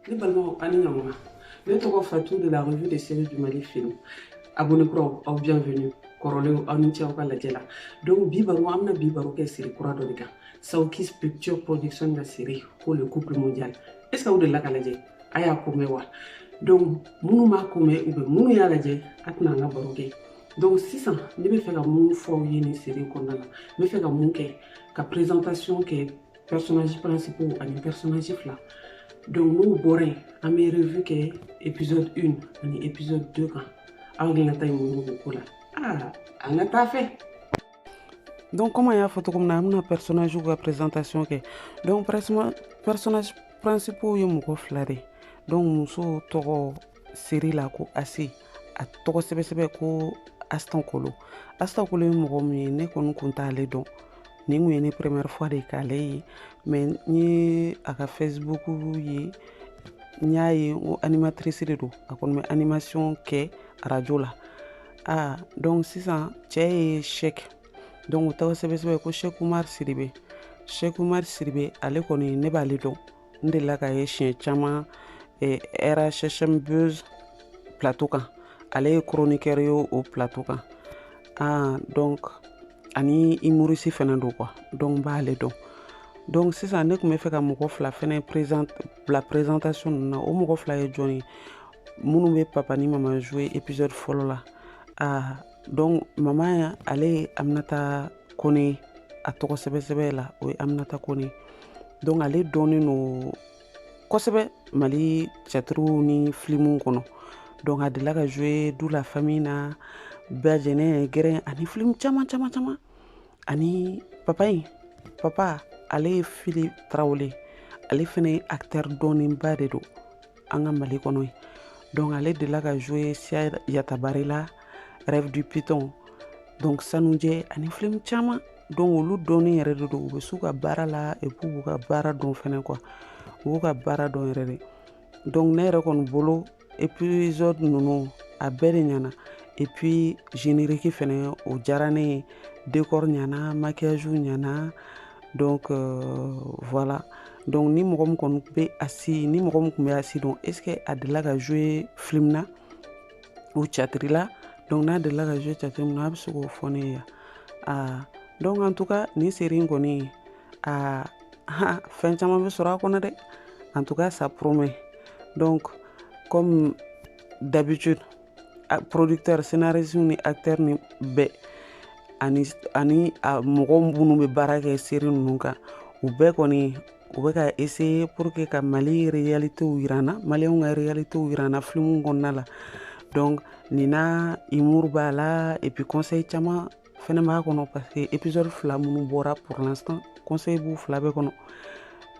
ne balimaw ani ɲɔgɔn ne tɔgɔ fatu de la revue de série du mali film abonné kuraw aw bienvenue kɔrɔlenw aw ni ce aw ka lajɛ la donc bi baro an bɛna bi baro kɛ série kura dɔ de kan saukis picture production ka série ko le couple mondial est ce que aw delila k'a lajɛ a y'a komɛn wa donc minnu m'a komɛn u bɛ minnu y'a lajɛ a tɛ na an ka baro kɛ donc sisan ne bɛ fɛ ka mun fɔ aw ye nin série kɔnɔna na n bɛ fɛ ka mun kɛ ka présentation kɛ personnage principaux ani personnage fila donc n'o bɔra yen an bɛ revue kɛ épisode 1 ani épisode 2 kan aw hakilina ta ye mun ye o ko la aa an ka taa fɛ donc comme an y'a fɔ cogo min na an bɛna personnage ka présentation kɛ donc personnage principaux ye mɔgɔ fila de ye donc muso tɔgɔ série la ko ase a tɔgɔ sɛbɛsɛbɛ ko astan kolo astan kolo ye mɔgɔ min ye ne kɔni kun t'ale dɔn nin kun ye ne première fois de k'ale ye mais n ye a ka facebook ye n y'a ye n ko animatrice de don a kɔni bɛ animation kɛ arajo la aa donc sisan cɛ ye cheick donc o tɔgɔ sɛbɛsɛbɛ ko cheick umar sidibe cheick umar sidibe ale kɔni ne b'ale dɔn n delila k'a ye siɲɛ caman eh, rhhm buzz plateau kan ale ye chroniqueur ye o plateau kan ah, donc ani humoriste fɛnɛ don quoi donc n b'ale dɔn donc sisan ne tun bɛ fɛ ka mɔgɔ fila fɛnɛ présent bila présentation ninnu na o mɔgɔ fila ye jɔn ye minnu bɛ papa ni mama jouer épisode fɔlɔ la ah, donc mama ale ye aminata kone a tɔgɔ sɛbɛsɛbɛ la o ye aminata kone donc ale dɔnnen don kosɛbɛ mali catiriw ni filimu kɔnɔ donc a delila ka jouer du la famille na bajɛnɛ gɛrɛn ani filimu caman caman caman ani papa in papa ale ye fili tarawele ale fana ye acteur dɔnnenba de don an ka mali kɔnɔ ye donc ale delila ka jouer sia yatabare la rêve du python donc sanujɛ ani film caman donc olu dɔnnen yɛrɛ de don u bɛ s'u ka baara la et puis u b'u ka baara dɔn fɛnɛ quoi u b'u ka baara dɔn yɛrɛ de donc ne yɛrɛ kɔni bolo épisode ninnu a bɛɛ de ɲɛna et puis générique fɛnɛ o diyara ne ye décor ɲɛna maquillage ɲɛna donc euh, voilà donc ni mɔgɔ min kɔni bɛ asi ni mɔgɔ min tun bɛ asi dɔn est ce que a delila ka jouer film na ou catiri la donc n'a delila ka jouer catiri min na a bɛ se k'o fɔ ne ye aa donc en tout cas nin série in kɔni aa ha fɛn caman bɛ sɔrɔ a kɔnɔ dɛ en tout cas ça promet donc comme d'habitude producteur scénariste ni acteur ni bɛɛ ani ani a mɔgɔ minnu bɛ baara kɛ seri ninnu kan u bɛɛ kɔni u bɛ ka essayer pour que ka mali réalitéw yira an na maliyɛnw ka réalitéw yira an na filimuw kɔnɔna la donc nin na humour b'a la et puis conseil caman fɛnɛ b'a kɔnɔ parce que épisode fila minnu bɔra pour l'instant conseil b'u fila bɛɛ kɔnɔ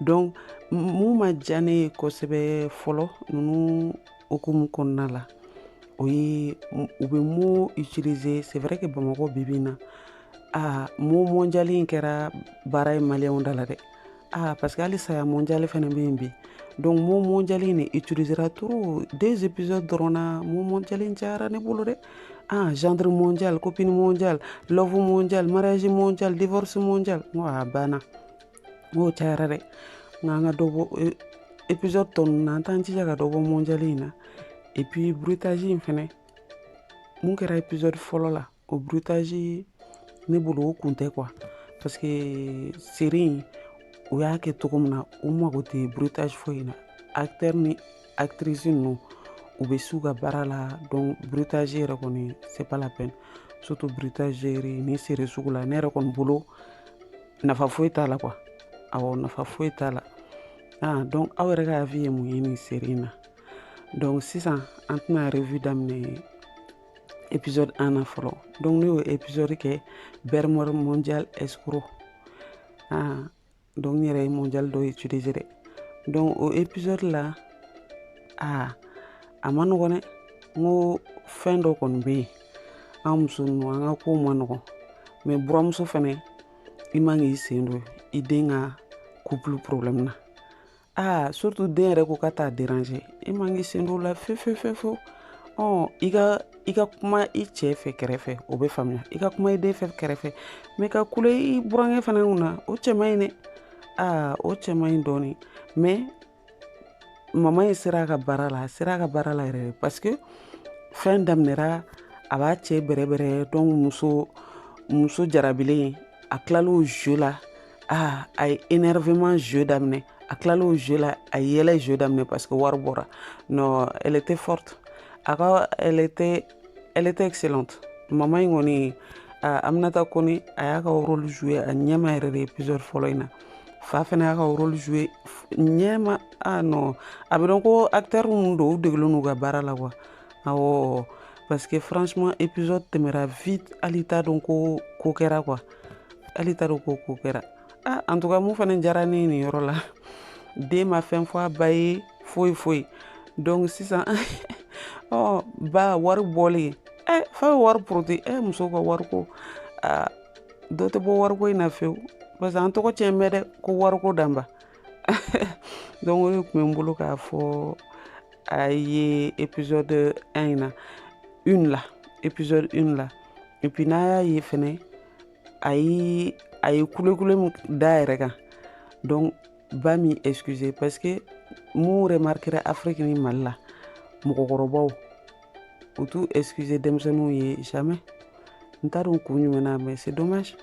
donc mun ma diya ne ye kosɛbɛ fɔlɔ ninnu o kuma kɔnɔna la o ye u bɛ mot utiliser c'est vrai que bamakɔ bi bi in na aa mot mondial in kɛra baara ye maliyɛnw da la dɛ aa parce que hali saya mondial fana bɛ yen bi donc mot mondial in de utilisera trop deux épisodes dɔrɔn na mot mondial in cayara ne bolo dɛ ah gendre mondial copine mondial love mondial mariage mondial divorce mondial n ko a banna n'o cayara dɛ nka an ka dɔ bɔ épisode tɔ ninnu na an t'an jija ka dɔ bɔ mondial in na et puis bruitage in fɛnɛ min kɛra épisode fɔlɔ la o bruitage ne bolo o kun tɛ quoi parce que seri in u y'a kɛ cogo min na u mago tɛ bruitage foyi na acteur ni actrice ninnu u bɛ s'u ka baara la donc bruitage yɛrɛ kɔni c'est pas la peine surtout bruitage nin seri sugu la ne yɛrɛ kɔni bolo nafa foyi t'a la quoi awɔ nafa foyi t'a la ah, donc aw yɛrɛ ka avis ye mun ye nin seri in na donc sisan an tɛna revue daminɛ épisode 1 na fɔlɔ donc ne y'o épisode kɛ belle-mère mondial escroc ah, donc n yɛrɛ ye mondial dɔ utiliser dɛ donc o épisode la ah, a man nɔgɔn dɛ n ko fɛn dɔ kɔni bɛ yen an muso ninnu an ka ko man nɔgɔn mais buramuso fɛnɛ i man k'i sen don i den ka couple problème na aa surtout den yɛrɛ ko k'a t'a déranger i man k'i sen don o la fefefefew ɔ i ka i ka kuma i cɛ fɛ kɛrɛfɛ o bɛ faamuya i ka kuma i den fɛ kɛrɛfɛ mais ka kule i burankɛ fana kunna o cɛ man ɲi dɛ aa o cɛ man ɲi dɔɔnin mais mama ye sera a ka baara la a sera a ka baara la yɛrɛ parce que fɛn daminɛra a b'a cɛ bɛrɛbɛrɛ donc muso muso jarabilen a tilal'o jeu la aa a ye énervement jeu daminɛ a tilal'o jeu la a ye yɛlɛ jeu daminɛ parce que wari bɔra non elle était forte a ka elle était Elle était excellente. Maman in kɔni Aminata Kone a y'a ka rôle jouer a ɲɛma yɛrɛ de épisode fɔlɔ in na. Fa fana y'a ka rôle jouer ɲɛma ah non a bɛ dɔn ko acteur minnu don u degelen don u ka baara la quoi. Awɔ parce que franchement épisode tɛmɛra vite hali i t'a dɔn ko ko kɛra quoi. Hali i t'a dɔn ko ko kɛra. ah, en tout cas mun fana diyara n ye nin yɔrɔ la den ma fɛn fɔ a ba ye foyi foyi donc sisan ɔ ba wari bɔlen ɛ fa bɛ wari porote ɛ muso ka wariko aa dɔ tɛ bɔ wariko in na fewu parce que an tɔgɔ tiɲɛnen bɛ dɛ ko wariko dama donc o de tun bɛ n bolo k'a fɔ a ye épisode 1 in na une la épisode une la et puis n'a y'a ye fɛnɛ a ye a ye kulekule min da yɛrɛ kan donc ba m'i excuse parce que mun remarquera afrique ni mali la mɔgɔkɔrɔbaw u t'u excuse denmisɛnninw ye jamais n t'a dɔn kun jumɛn na mais c'est dommage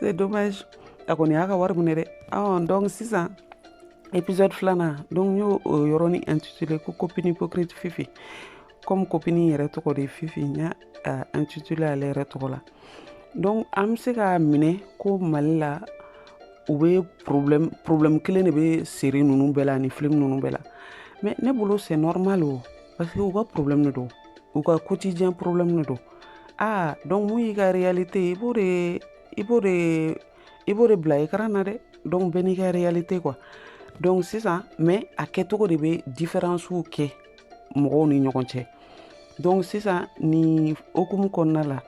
c'est dommage a kɔni y'a ka wari minɛ dɛ ɔn donc sisan épisode filanan donc n y'o yɔrɔnin intitulé ko copine hypocrite fifi comme copine yɛrɛ tɔgɔ de ye fifi n y'a intitulé ale yɛrɛ tɔgɔ la donc an bɛ se k'a minɛ ko mali la u bɛ problème problème kelen de bɛ série ninnu bɛɛ la ani film ninnu bɛɛ la mais ne bolo c'est normal o parce que u ka problème de don u ka quotidien problème de don ah donc mun y'i ka réalité i b'o de i b'o de i b'o de bila écran na dɛ donc bɛɛ n'i ka réalité quoi donc sisan mais a kɛcogo de bɛ différence kɛ mɔgɔw ni ɲɔgɔn cɛ donc sisan ni okumu kɔnɔna la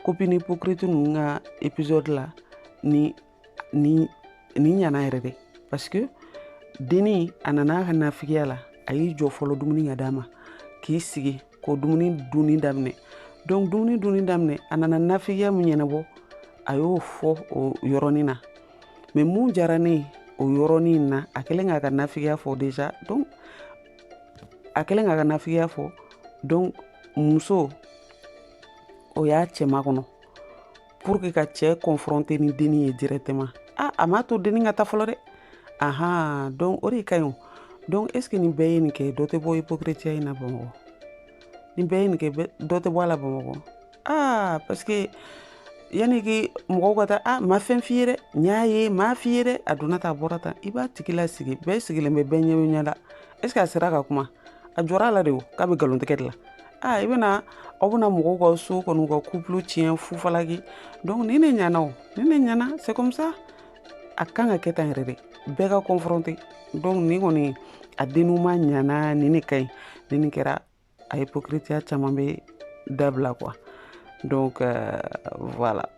copine hypocrite ninnu ka épisode la ni ni ni ɲana yɛrɛ dɛ parce que dennin a nana a ka nafigiya la a y'i jɔ fɔlɔ dumuni ka d'a ma k'i sigi k'o dumuni dunni daminɛ donc dumuni dunni daminɛ a nana nafigiya min ɲɛnabɔ a y'o fɔ o yɔrɔnin na mais mun diyara ne ye o yɔrɔnin na a kɛlen k'a ka nafigiya fɔ déjà donc a kɛlen k'a ka nafigiya fɔ donc muso o y'a cɛ makɔnɔ pour que ka cɛ confronter ni denni ye directement ah a m'a to denni ka taa fɔlɔ dɛ ahan donc o de ka ɲi donc est ce que ni bɛɛ ye nin kɛ dɔ tɛ bɔ hypocrisiya in na bamakɔ ni bɛɛ ye nin kɛ dɔ tɛ bɔ a la bamakɔ aa parce que yanni k'i mɔgɔw ka taa a ma fɛn f'i ye dɛ n y'a ye ma f'i ye dɛ a donna tan a bɔra tan i b'a tigi lasigi bɛɛ sigilen bɛ bɛɛ ɲɛ bɛ ɲɛ la est ce que a sera ka kuma a jɔra a la de o k'a bɛ nkalontigɛ de la a i bɛna aw bɛna mɔgɔw ka so kɔni ka couple tiɲɛ fu falaki donc nin de ɲana o nin de ɲana c'est comme ça a kan ka kɛ tan yɛrɛ de bɛɛ ka confronter donc nin kɔni a dénouement ɲana nin de ka ɲi nin de kɛra a hypocritiya caman bɛ dabila quoi donc euh, voilà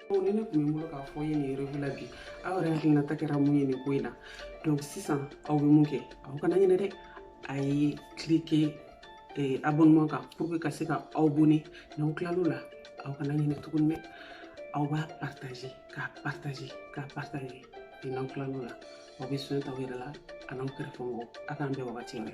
nin de tun bɛ n bolo k'a fɔ aw ye nin revue la bi aw yɛrɛ hakilinata kɛra mun ye nin ko in na donc sisan aw bɛ mun kɛ aw kana ɲinɛ dɛ a ye cliquer eh, abonnement kan pour que ka se ka aw abonner n'aw tilal'o la aw kana ɲinɛ tuguni dɛ aw b'a partager k'a partager k'a partager n'aw tilal'o la aw bɛ soin ta aw yɛrɛ la an'aw kɛrɛfɛ mɔgɔ a k'an bɛn wagati wɛrɛ